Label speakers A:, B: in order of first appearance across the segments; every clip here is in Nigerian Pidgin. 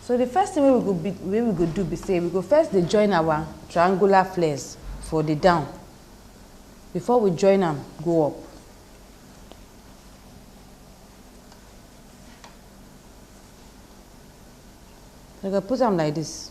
A: So the first thing wey we go be wey we go do be say we go first dey join our triangular flares for the down before we join am go up. We go put am like this.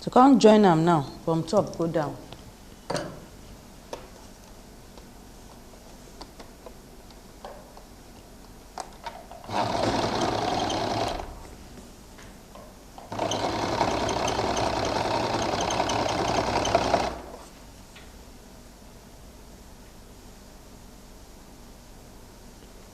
A: to come join am now from top go down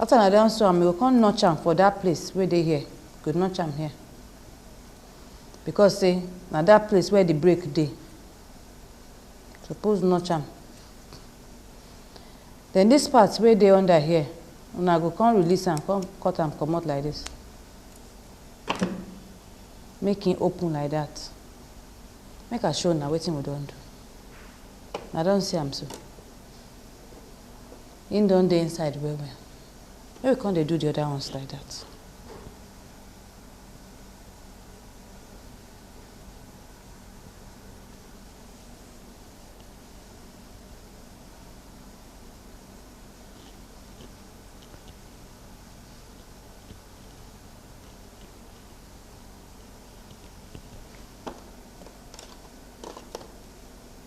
A: After na don sew am, you go come notch am for that place wey dey here. You go notch am here. Because say na that place where the break dey. You suppose notch am. Then this part wey dey under here, una go come release am, come cut am comot like this. Make e open like that. Make I show una wetin we don do. Una don see am so. Him don dey inside well well. Make we come dey do the other ones like that.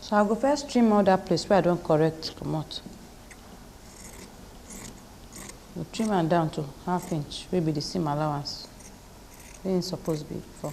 A: so i go first trim all that place where i don't correct come out. go trim am down to half inch wey be the seam allowance wey im suppose be for.